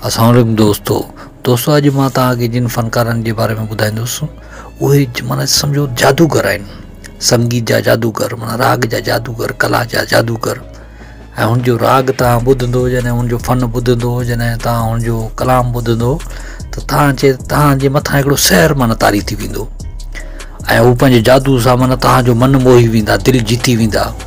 السلام عليڪم دوستو دوستو اڄ مان توهان کي جن فنڪارن جي باري ۾ ٻڌائيندس اهي مانا سمجھو جادوگر آهن سنگيت جا جادوگر مانا راڳ جا جادوگر ڪلا جا جادوگر ۽ هن جو راڳ توهان ٻڌندو جڏهن هن جو فن ٻڌندو جڏهن توهان هن جو ڪلام ٻڌندو ته توهان چي توهان جي مٿان هڪڙو سحر مانا تاري ٿي ويندو ۽ هو پنهنجي جادو سان مانا توهان جو من موهي ويندا دل جيتي ويندا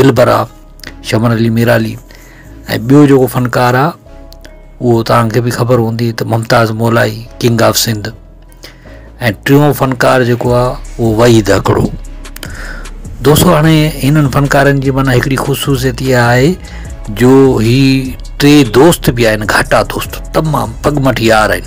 دلبر آ شمن علي ميرالي ۽ ٻيو جيڪو فنڪار آ اهو توهان کي به خبر هوندي ته ممتاز مولائي ڪنگ آف سنڌ ۽ ٽيون فنڪار جيڪو آ اهو وحيد هڪڙو دوستو هاڻي هنن فنڪارن جي معنی هڪڙي خصوصيت اها آهي جو هي ٽي دوست به آهن گهاٽا دوست تمام پڳمٺ يار آهن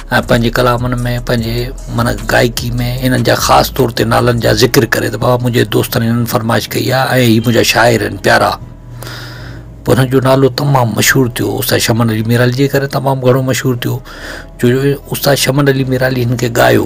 ۽ پنهنجي ڪلامن ۾ پنهنجي معنيٰ گائڪي ۾ انهن جا خاص طور تي نالن جا ذڪر ڪري ته بابا منهنجي دوستن هنن فرمائش ڪئي آهي ۽ هي منهنجا شاعر آهن پيارا پوء هنن جو نالو تمام مشهور ٿيو استاد شمن علي ميرالي جي ڪري تمام گهڻو مشهور ٿيو جو استاد شمن علي ميرالي هن کي ڳايو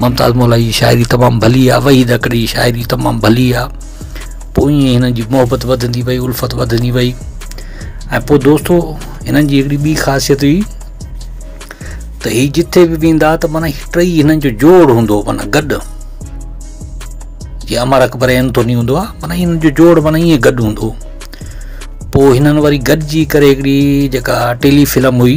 ممتاز مولائي جي شاعري تمام ڀلي آ وحيد اڪڙي جي شاعري تمام ڀلي آ پوء ائين هنن جي محبت وڌندي وئي الفت وڌندي وئي ۽ پوء دوستو هنن جي هڪڙي ٻي خاصيت هئي ته هي جتي به ويندا ته مانا ٽئي هنن جو جوڙ هوندو مانا گڏ جي امر اڪبر اينٿوني هوندو آ مانا هنن جو جوڙ مانا ائين گڏ هوندو پوء هنن وري گڏجي ڪري هڪڙي جيڪا ٽيلي فلم هئي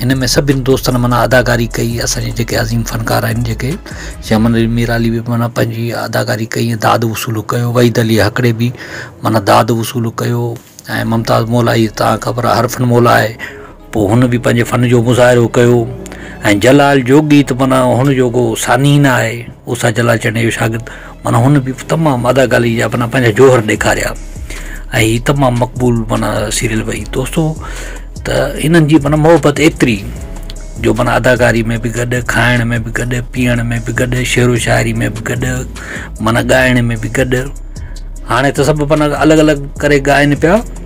هن ۾ سڀني دوستن معنيٰ اداڪاري ڪئي اسان جي جيڪي عظيم فنڪار آهن جيڪي شمن علي ميرعلي به معنيٰ پنهنجي اداڪاري ڪئي ۽ داد وصول ڪيو وحيد علي هڪڙي به معنيٰ داد وصول ڪيو ۽ ممتاز مولائي تان خبر آهي هر فن مولا آهي پوء هن به پنهنجي فن جو مظاهرو ڪيو ۽ جلال جوڳي ته معنيٰ هن جو ڪو ثاني ئي نه آهي اوسا جلال چئني جو شاگرد معنيٰ هن به تمام اداڪاري جا معنيٰ پنهنجا جوهر ڏيکاريا ۽ هي تمام مقبول معنيٰ سيريل به هي دوستو ته هنن جي معنيٰ محبت ايتري جو معنيٰ اداڪاري ۾ به گڏ کائڻ ۾ به گڏ پيئڻ ۾ به گڏ شعر و شاعري ۾ به گڏ معنيٰ ڳائڻ ۾ به گڏ هاڻي ته سڀ معنيٰ الڳ الڳ ڪري ڳائن پيا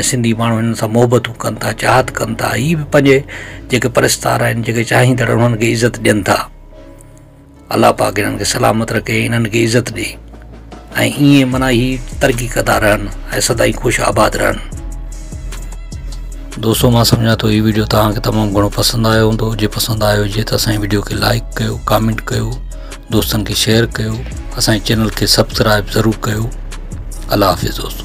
۽ سنڌي ماڻهو هنن سان محبتون ڪن ٿا چاهت ڪن ٿا هي به پنهنجي جيڪي پرستار آهن جيڪي چاهيندڙ آهن انهن کي عزت ڏين ٿا الله پاڪ انهن کي سلامت رکي انهن کي عزت ڏي ۽ ائين منا هي ترقي ڪندا رهن ۽ سدائي خوش آباد رهن دوستو مان سمجھان ٿو هي ويڊيو توهان کي تمام گھڻو پسند آيو هوندو جي پسند آيو هجي ته اسان جي ويڊيو کي لائڪ ڪيو ڪامينٽ ڪيو دوستن کي شيئر ڪيو اسان جي چينل کي سبسڪرائب ضرور ڪيو الله حافظ دوستو